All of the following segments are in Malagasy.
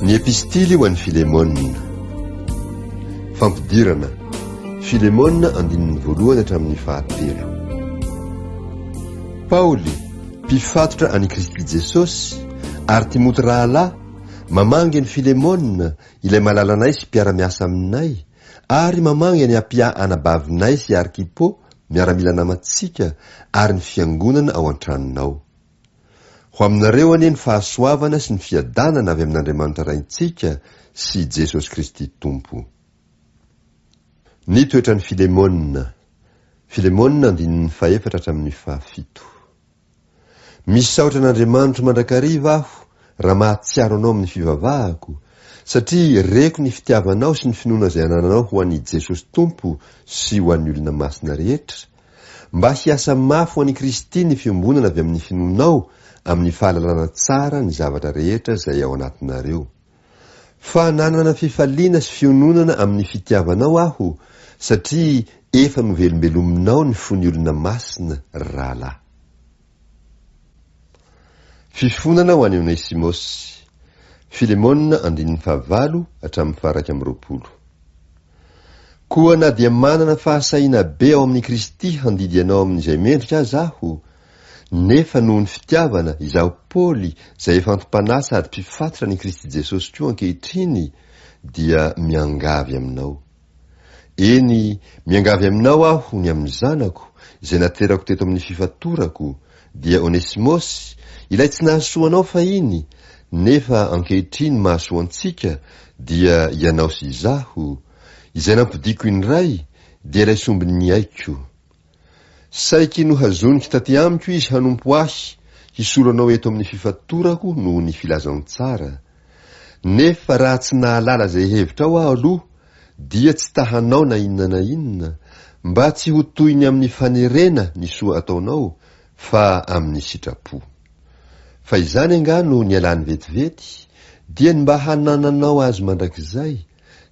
Ny epistily ho an'i Filemona. Fampidirana, Filemona andininy voalohany hatramin'ny fahatelo. Paoly, mpifatotra an'i Kristy Jesosy, ary Timoty rahalahy, mamangy an'i Filemona, ilay malalanay sy mpiara-miasa aminay, ary mamangy an'i Apia anabavinay sy Arkipo, miaramila namantsika, ary ny fiangonana ao an-tranonao. Ho aminareo anie ny fahasoavana sy ny fiadanana avy amin'Andriamanitra Raintsika sy i Jesosy Kristy Tompo. Ny toetran'i Filemona. Filemona andininy fahefatra hatramin'ny fahafito. Misaotra an'Andriamanitro mandrakariva aho raha mahatsiaro anao amin'ny fivavahako, satria reko ny fitiavanao sy ny finoana izay anananao ho an'i Jesosy Tompo sy ho an'ny olona masina rehetra, Mba hiasa mafy ho an'i Kristy ny fiombonana avy amin'ny finoanao amin'ny fahalalana tsara ny zavatra rehetra izay ao anatinareo. Fa nanana fifaliana sy fiononana amin'ny fitiavanao aho satria efa novelombelominao ny fon'ny olona masina, ry rahalahy. Fifonana ho an'i Onesimosy. Filemona andininy fahavalo hatramin'ny faha-iraika amby roapolo. Koa na dia manana fahasahiana be ao amin'i Kristy handidy anao amin'izay mendrika aza aho, nefa noho ny fitiavana, izaho Paoly, izay efa anti-panahy sady mpifatotra an'i Kristy Jesosy koa ankehitriny, dia miangavy aminao. Eny, miangavy aminao aho ny amin'ny zanako, izay naterako teto amin'ny fifatorako, dia Onesimosy, ilay tsy nahasoa anao fahiny, nefa ankehitriny mahasoa antsika, dia ianao sy izaho, izay nampodiako indray, dia ilay sombin'ny aiko. Saiky nohazonik taty amiko izy hanompo ahy hisolo anao eto amin'ny fifatorako noho ny filazantsara. Nefa raha tsy nahalala izay hevitrao aho aloha dia tsy ta hanao na inona na inona mba tsy ho toy ny amin'ny fanerena ny soa ataonao fa amin'ny sitrapo. Fa izany angaha no nialany vetivety dia ny mba hanananao azy mandrakizay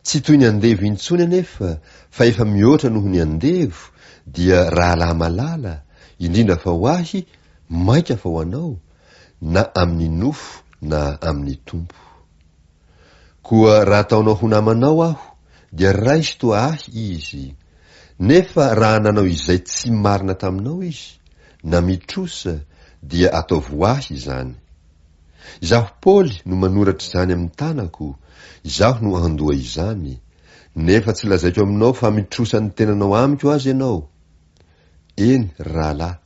Tsy toy ny andevo intsony anefa fa efa mihoatra noho ny andevo dia rahalahy malala, indrindra fa ho ahy, mainka fa ho anao, na amin'ny nofo na amin'ny Tompo. Koa raha ataonao ho namanao aho dia raiso toa ahy izy, nefa raha nanao izay tsy marina taminao izy, na mitrosa, dia ataovy ho ahy izany. Izaho Paoly no manoratra izany amin'ny tanako, izaho no andoha izany, nefa tsy lazaiko aminao fa mitrosa ny tenanao amiko aza ianao. Eny, ry rahalahy,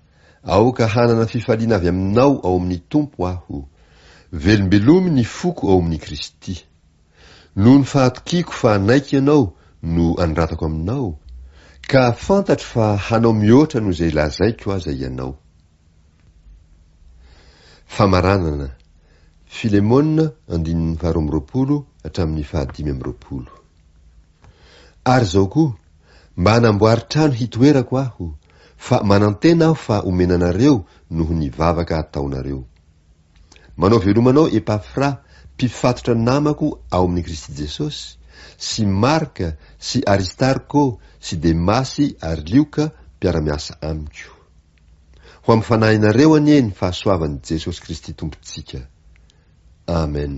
aoka hanana fifaliana avy aminao ao amin'ny Tompo aho. Velombelomy ny foko ao amin'i Kristy. Noho ny fahatokiako fa hanaiky ianao no anoratako aminao, ka fantatro fa hanao mihoatra noho izay lazaiko aza ianao. Famaranana, Filemona andininy faharoa amby roapolo hatramin'ny fahadimy amby roapolo. Ary izao koa, mba hanamboary trano hitoerako aho, fa manantena aho fa homena anareo noho ny vavaka ataonareo. Manao veloma anao Epafra, mpifatotra namako ao amin'i Kristy Jesosy, sy Marka sy Aristarko sy Demasy ary Lioka mpiara-miasa amiko. Ho amin'ny fanahinareo anie ny fahasoavan'i Jesosy Kristy Tompontsika. Amen.